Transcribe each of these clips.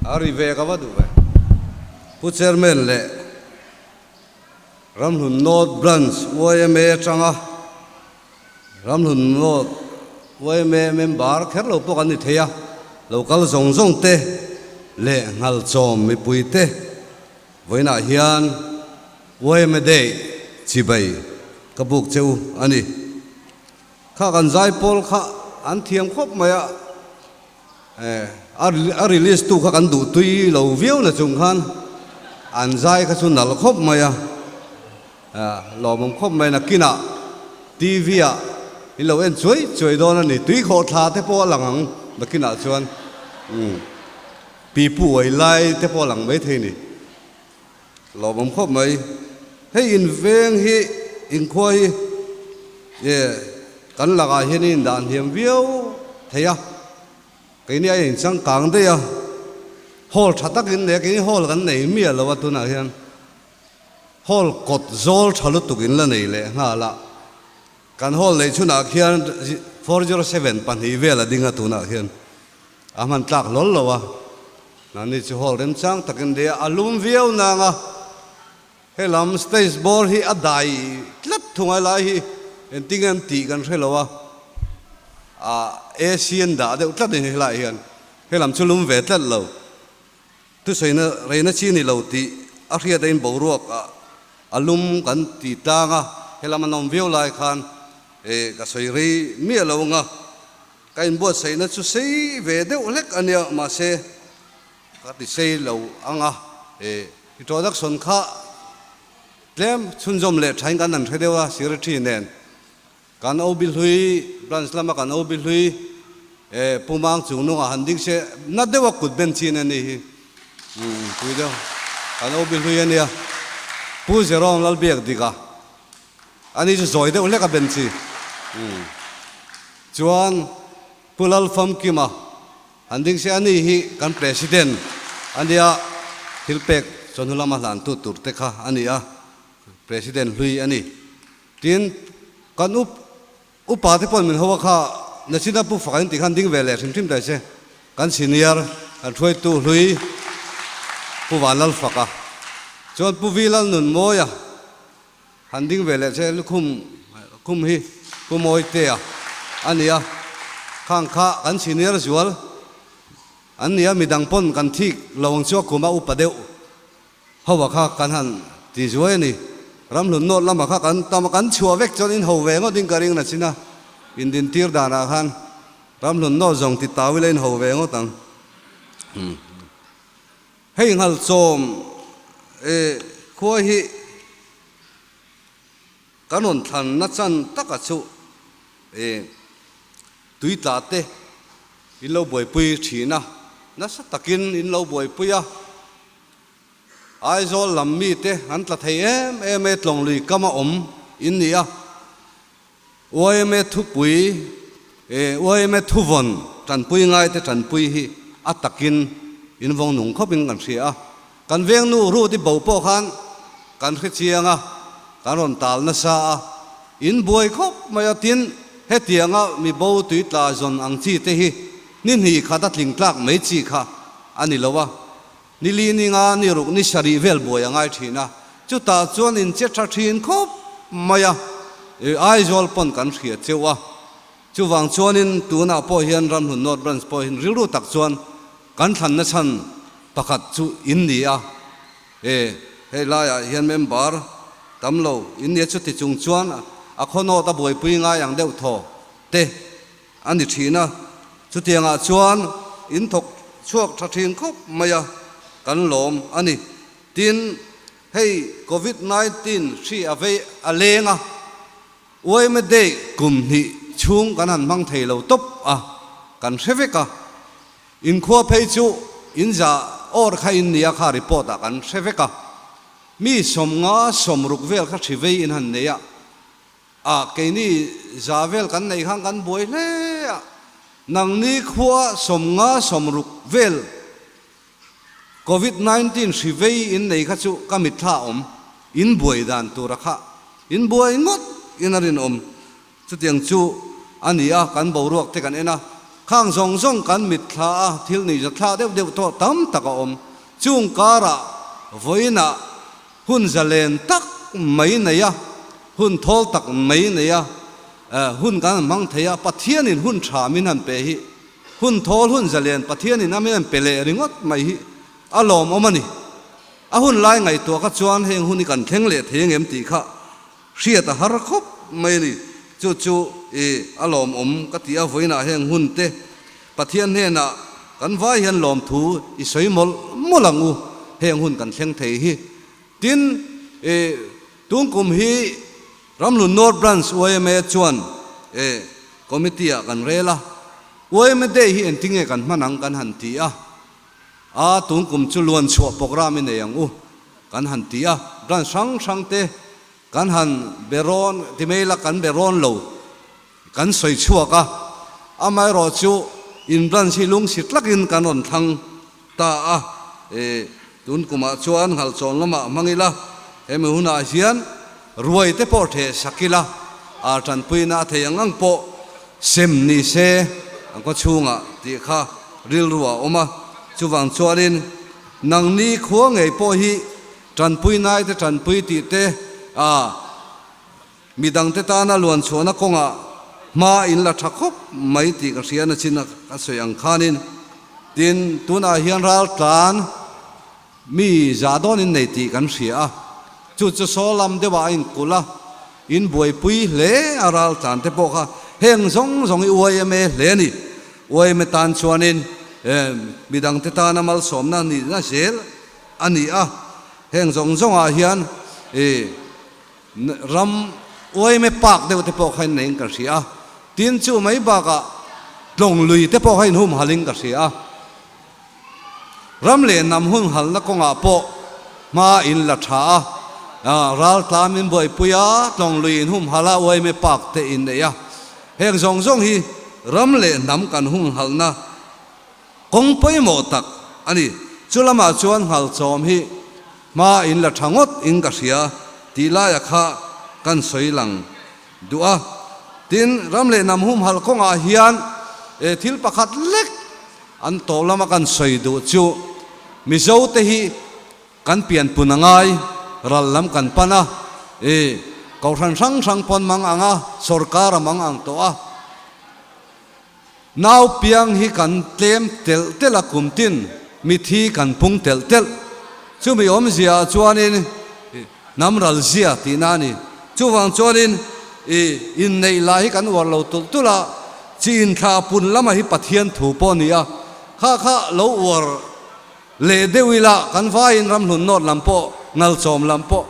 A ri ve ka va duh e. Pu Chairman leh Ramhlun North Branch yma atanga Ramhlun North yma member kher lo pawh kan ni thei a, lo kal zawng zawng te leh Nghalchawm mipui te vawiinah hian yma day chibai ka buk che u a ni. Kha kan zai pawl kha an thiam khawp mai a, A release tu kha kan duh tui lo viau na chung khan an zai kha chu nal khawp mai a, lawmawm khawp mai na kinah TV ah in lo en chuai chuai dawn a ni, tui khawh thla te pawh a lang ang na kinah chuan, umm, pipu uai lai te pawh a lang maithei a ni. Lo awm khawp mai. Hei in veng hi, in khua hi e kan lakah hian in dan hliam viau thei a. Keini a in changkang daih a. Hall tha takin leh keini hall kan nei miah lo a tunah hian hall kawt zawl tha lutukin la nei leh nghal a. Kan hall nei chhunah khian four zero seven pahnih vel a ding a tunah khian. A hman tlak lawr lo a, Nani chu hawl remchang takin leh a lum viau nang a, he lam stage bawr hi a dai tlat thungai lai hi engtin nge an tih kan hre lo a, a asian dah deuh tlat a ni helai hian, he lam chu lum ve tlat lo, thusaina reina chi ni lo tih a hriat a in boruak a, a lum kan ti tlang a, he lam an awm viau lai khan eh ka sawi rei miah lo ang a. Ka inbuatsaihna chu sei ve deuh hlek a nia, mahse ka ti sei lo ang a, he introduction kha tlem chhunzawm leh thain kan han hre deuh a, Secretary nen kan OB hlui, Branch lama kan OB hlui e Pumang chung nungah han ding che nat deuh a kut ben chin a ni hi, umm pui deuh kan OB hlui a nia, Pu Zerong Lalbiak Dika. Ani chu zawi deuh hlek a ben chi. Umm. Chuan Kulal Famkima han ding se ani hi kan President ania thil pek chawlhnu lama hlantu tur te kha ani a, President hlui ani. Tin kan up upa te pawh min ho a kha Nachina Pu Fakain tih khan ding ve leh hrim hrim ta se kan Senior kan hruaitu hlui Pu Vanlal Faka chuan Pu Vilalnunmawia, Han ding ve leh che lukhum kum hi Pu Mawitea a nia, khang kha kan senior zual an nia, midang pawn kan thik lo ang chu a kum a upa deuh hova kha kan han ti zuai a ni. Ramhlun nawt lama kha kan tam a, kan chhuah vek chuan in ho ve ngawtin ka ring la chin a, indin tir danah khan ramhlun nawt zawng ti tau ila in ho ve ngawt ang. Hei nghal chawm e, khua hi kan rawn thlan na chan tak a chuh e, tui tla te in lo buaipui thin a, nasa takin in lo buaipui a, Aizawl lam mi te an tla thei em em e tlawng lui kam a awm in nia. Uaime thupui e uaime thuvawn tanpui ngaite tanpui hi a takin invawng nung khawpin kan hria a, kan vengnu Rudy Bo pawh khan kan hrechiang a, kan rawn tal nasa a, in buai khawp mai a tin hetianga mi bo tui tlai zawn ang chi te hi ni hni khat a tling tlak mai chi kha a ni lo a, Ni li ninga ni ruk ni sarih vel buai a ngai thin a, chutah chuan in che tha thin khawp mai a, Aizawl pawn kan hria cheu a, chuvang chuanin tunah pawh hian Ramhlun North Branch pawhin rilru tak chuan kan thlan na chhan pakhat chu in ni a, he hei laiah hian member tam lo in nia chuti chung chuan a khawnawt a buaipui ngai ang deuh thaw te A ni thin a, chutiangah chuan in thawk chhuak tha thin khawp mai a kan lawm a ni. Tin, hei Covid nineteen hri a vei a leng a, Uaima Day kum hnih chhung kan han hmang thei lo tawp a, kan hre vek a. Inkhua phei chu in za awr kha in nia kha report ah kan hre vek a, mi sawmnga sawm ruk vel kha hri vei in han nei a. Ah, keini za vel kan nei khan kan buai hle a, nangni khua sawm nga sawm ruk vel covid nineteen hri vei in nei kha chu ka mitthla awm in buai dan tura kha in buai ngawt in a rinawm chutiang chu a ni a, kan boruak te kan en a, khang zawng zawng kan mitthla a, thil nihza thla deuh deuh tawh tam tak a awm, chungkar ah vawiin ah Hun zalen tak mai neia, hun thawl tak mai neia, hun kan han hmang thei a, Pathianin hun tha min han pe hi, hun thawl hun zalen Pathianin a min han pe leh ringawt mai hi a lawmawm a ni. A hun lai ngaihtuah kha chuan heng hun hi kan thleng leh thei ang em tih kha Hriat a har khawp mai a ni. Chu chu i a lawmawm ka ti a, vawiinah heng hunte Pathian hnenah kan vai hian lawmthu i sawi mawlh mawlh ang u, heng hun kan thleng thei hi. Tin, i tung kum hi Ramhlun North Branch UIMA chuan i committee-ah kan rel a, UIMA Day hi engtinge kan hman ang kan han ti a. A tung kum chu luan chhuah programme i nei ang u kan han ti a, brand hrang hrang te kan han be rawn ti mai ila kan be rawn lo kan sawi chhuak a, amaherawh chu in branch hi lungsi tlakin kan rawn thlang ta a, e tun kumah chuan Nghalchawng lamah hmang ila hemi hunah hian. Ruai te pawh ṭhe sak ila, ar ṭanpuina a thei ang ang pawh sem ni se an khawchhunga tih kha rilru a awm a. Chuvang chuanin nangni khua ngei pawh hi ṭanpui naite ṭanpui tih te a mi dangte tana luan chhuahna kawngah hma in la ṭha khawp mai tih ka hria nachin a sawi ang khanin tin tunah hian raltlan Mi zah dawn in nei tih kan hria a, chu chu saw lam deuh ah a in kulh a, in buaipui hle a ral tlan te pawh kha heng zawng zawng i uai em e hle a ni. Uai em e tan chuan in mi dang te tan a malsawm na ni na zel a ni a, heng zawng zawng ah hian i ram uai em e pak deuh te pawh kha in nei in ka hria a, tin chu mai bak ah tlawng lui te pawh kha in hum hal in ka hria a. Ram leh nam hun halna kawngah pawh hma in la tha a, ral tlam in buaipui a, tlawng lui in hum hal a, uaime pak te in neih a. Heng zawng zawng hi ram leh nam kan hun halna kawng pawimawh tak a ni. Chu lamah chuan nghal chawm hi hma in la tha ngawt in ka hria tih laia kha kan sawi lang. Duh a, tin ram leh nam humhal kawngah hian e thil pakhat lek an tawh lama kan sawi duh chu Mizo te hi kan pian pun angai, ral lam kan pan a, e kohhran hrang hrang pawn mang ang a, sorkar a mang ang tawh a. Nau piang hi kan tlem telh telh a kum tin mit hi kan pung telh telh. Chumi awmzia chuanin hnam ral zia tihna a ni. Chuvang chuanin i inneih lah hi kan uar lo tulh tulh a, chin thla pun lama hi Pathian thu pawh a ni a, kha kha lo uar leh deuh ila kan vaiin ramhlun nawt lam pawh, ngalchawm lam pawh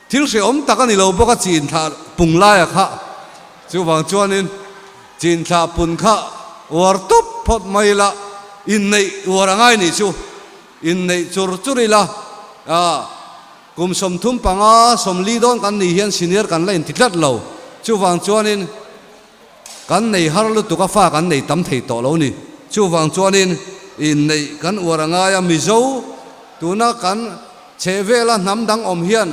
Thil hrehawm tak a ni lo bawk a chin thlah pung laia kha. Chuvang chuanin chin thlah pun kha uar tawp phawt mai ila, inneih uar a ngai nih chu, inneih chur chur ila, ah, kum sawmthum panga sawmli dawn kan nih hian senior kan la inti tlat lo. Chuvang chuanin Kan nei har lutuk a fa kan nei tam thei tawh lo ni. Chuvang chuanin i neih kan uar a ngai a. Mizo tuna kan chhe vela hnam dang awm hian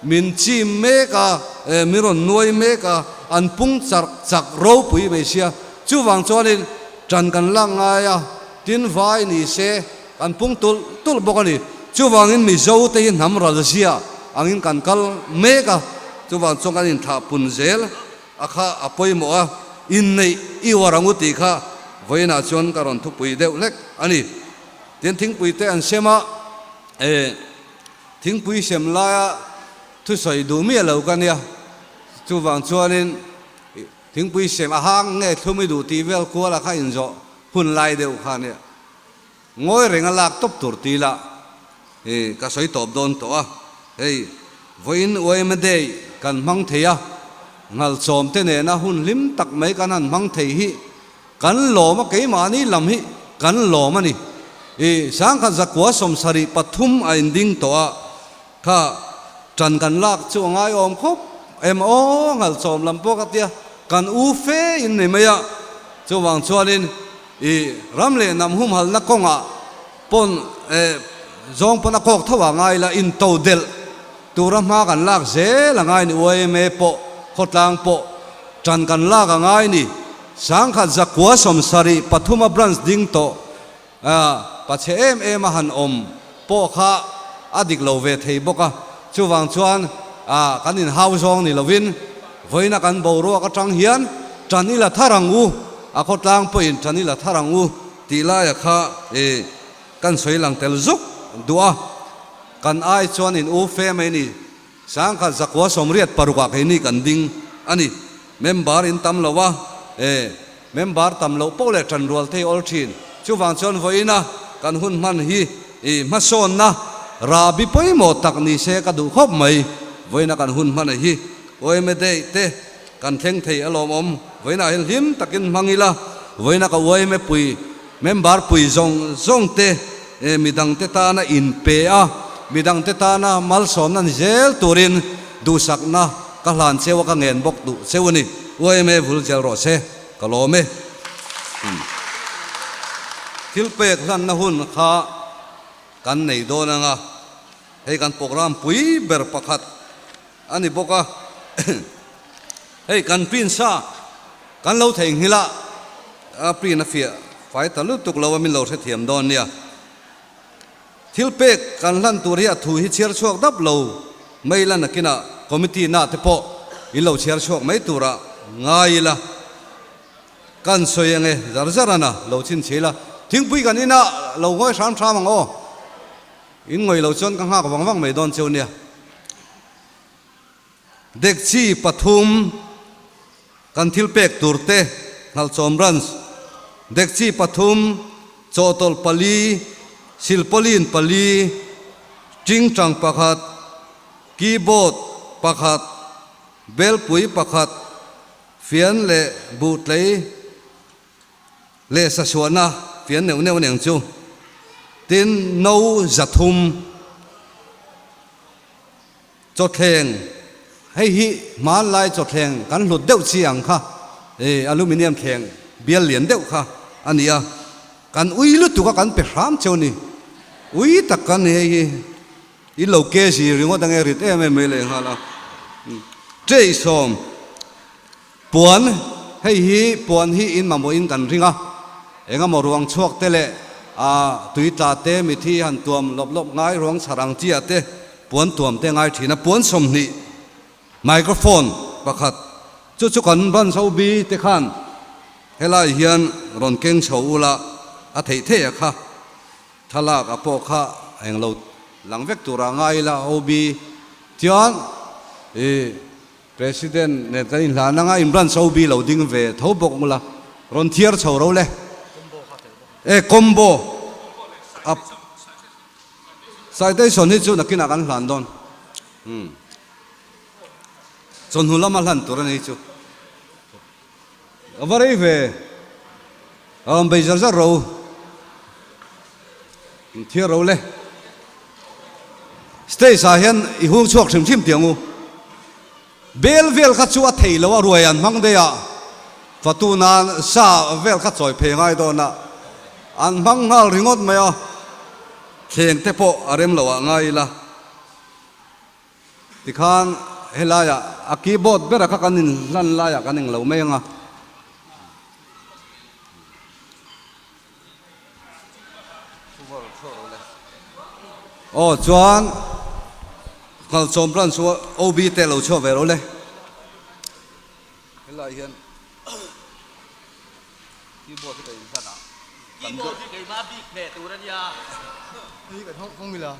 min chim mek a, eh, min rawn nuai mek a, an pung charh chak ropui mai sia. Chuvang chuanin ṭan kan lak ngai a, tin vai ni se kan pung tulh tulh bawk a ni. Chuvangin Mizote hi hnam ralzia angin kan kal mek a, chuvang chuan kan inthah pun zel. A kha a pawimawh a, inneih i uar ang u tih kha vawiinah chuan ka rawn thupui deuh hlek a ni. Tin, thingpui te an sem a, thingpui sem laia thusawi duh miah lo ka nia. Chuvang chuanin thingpui sem a hang nge thlum i duh tih vel kual a kha inzawh hun lai deuh kha nia. Ngawi reng a lak tawp tur ti lah hi ka sawi tawp dawn tawh a, hei vawiin uaima day kan hmang thei a, hngalchawm te nena hun hlim tak mai kan han hmang thei hi kan lawm a, keimahni lam hi kan lawm a ni i, sangkhat zakua sawmsarih pathum a inding tawh a, Kha tan kan lak chu a ngai awm khawp em aw nghal chawm lam pawh ka tia kan u fe in ni mai a, chuvang chuan in i ram leh nam humhal na kawng ah pawn eh zawng pawn a kawk tho a ngai la in to delh tur a hma kan lak zel a ngai ni uaime pawh khawtlang pawh tan kan lak a ngai ni sangkhat zakua sawmsarih pathuma branch ding tawh A pachhe em em a han awm pawh kha a dik lo ve thei bawk a, chuvang chuan a kan in hau zawng ni lovin vawiina kan boruak atang hian tan ila thar ang u, a khawtlang pawhin tan ila thar ang u tih laia kha i kan sawi lang tel zuk duh a, kan ai chuan in u fe mai ni. Sang khat zakhua sawmriat paruk ah keini kan ding a ni. Member in tam lo a, e, member tam loh poh leh tan rual thei awl thin. Chuvang chuan vawiina kan hun hman hi i hmasawnna ra bi pawimawh tak ni se ka duh khawp mai. Vawiina kan hun hmana hi uaime date te kan thleng thei alawm awm. Vawiina hi hlim takin hmang ila vawiina ka uaime pui. Member pui zawng zawng te midang te tana in pe a, midang te tana malsawmna ni zel turin duhsakna ka hlan cheu a ka ngen bawk duh cheu a ni. Uaime vul zel rawh se ka lawm e. Thil pek hlanna hun kha kan nei dawn anga hei kan program pui ber pakhat A ni bawk a, hei kan pin sa kan lo thei nghil a, a pin a fiah fai ta lutuk lo a min lo hrethiam dawn nia. Thil pek kan hlan tur hi a thu hi chhiar chhuak dap lo mai la nakina committee na te pawh in lo chhiar chhuak mai tura ngai ila kan sawi ange zar zar ana lo chhin chhe ila thingpui kan ina lo ngawih hram hram ang aw. In ngawih lo chuan ka nghak vang vang mai dawn cheu nia. Dekchi pathum kan thil pek tur te, Hnalhchawm Branch, dekchi pathum, chawhtawlh pali, silpawlin pali, tingtang pakhat, keyboard pakhat, belpui pakhat, fian leh buhtlei, leh sasuahna fian neuh neuh nen chu. Tin, no zathum chawthleng, hei hi hmanlai chawthleng kan hlut deuh chi ang kha aluminium thleng bial lian deuh kha a ni a, kan ui lutuk a kan pe hram cheu ni. Ui tak kan ni hei hi, i lo kezi ringawt ange rit em em mai leh nghal a. Tei sawm. Puan, Hei hi puan hi in mamawhin kan ring a, engemaw ruang chhuak te leh tui tla te, mithi han tuam lawp lawp ngai, ruang chhar ang tia te, puan tuam te ngai thin a, puan sawmhnih, microphone, pakhat chu chu kan Banzo Bi te khan helai hian rawn keng chho ula, a theih theih a kha, thlalak a pawh kha a englo lang vek tura ngai ila OB chuan i. President nen kan inhlan anga Imran Chaubi lo ding ve tho bawk ngula rawn thiar chho ro le e combo a citation hi chu nakinah kan hlan dawn chawhnu lama hlan tur a ni chu. A va rei ve. A awm bei zar zar ro. Min thiar ro le. Stage ah hian i hung chhuak hrim hrim ti ang u. Bel vel kha chu a thei lo a ruai an hmang daih a. Fatu nan sa vel kha chawi phei ngai dawn a. An hmang nghal ringawt mai a. Thleng te pawh a rem lo ah ngai ila. Tikhan helai ah a keyboard ber a kha kan in hlan lai ah kan eng lo mai ang a. Aw chuan Hmalsawm branch chu OB te lo chhuah ve lo le. Helai hian keyboard te kan in hlan a. Keyboard hi keima bik hmeh tur a nia. Hi kan hawng hawng ila.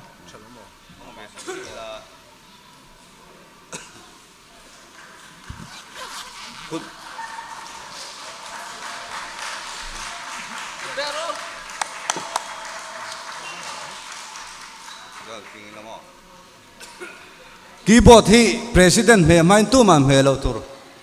Keyboard hi President hmeh hmain tuma hmeh loh tur.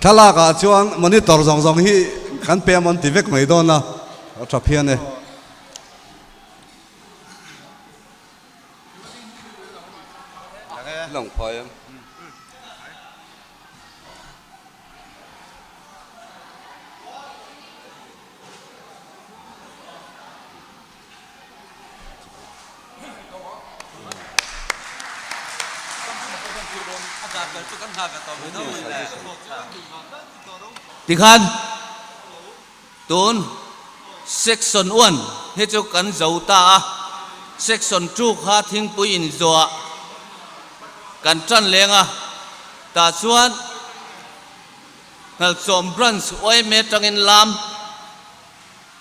Thlalakah chuan monitor zawng zawng hi kan payment ti vek mai dawn a, a tha phian e. Tikhan tun section one hi chu kan zo ta a, section two kha thingpui in zawah kan tan leng a, tah chuan Hnalhsawm branch OMA tangin lam.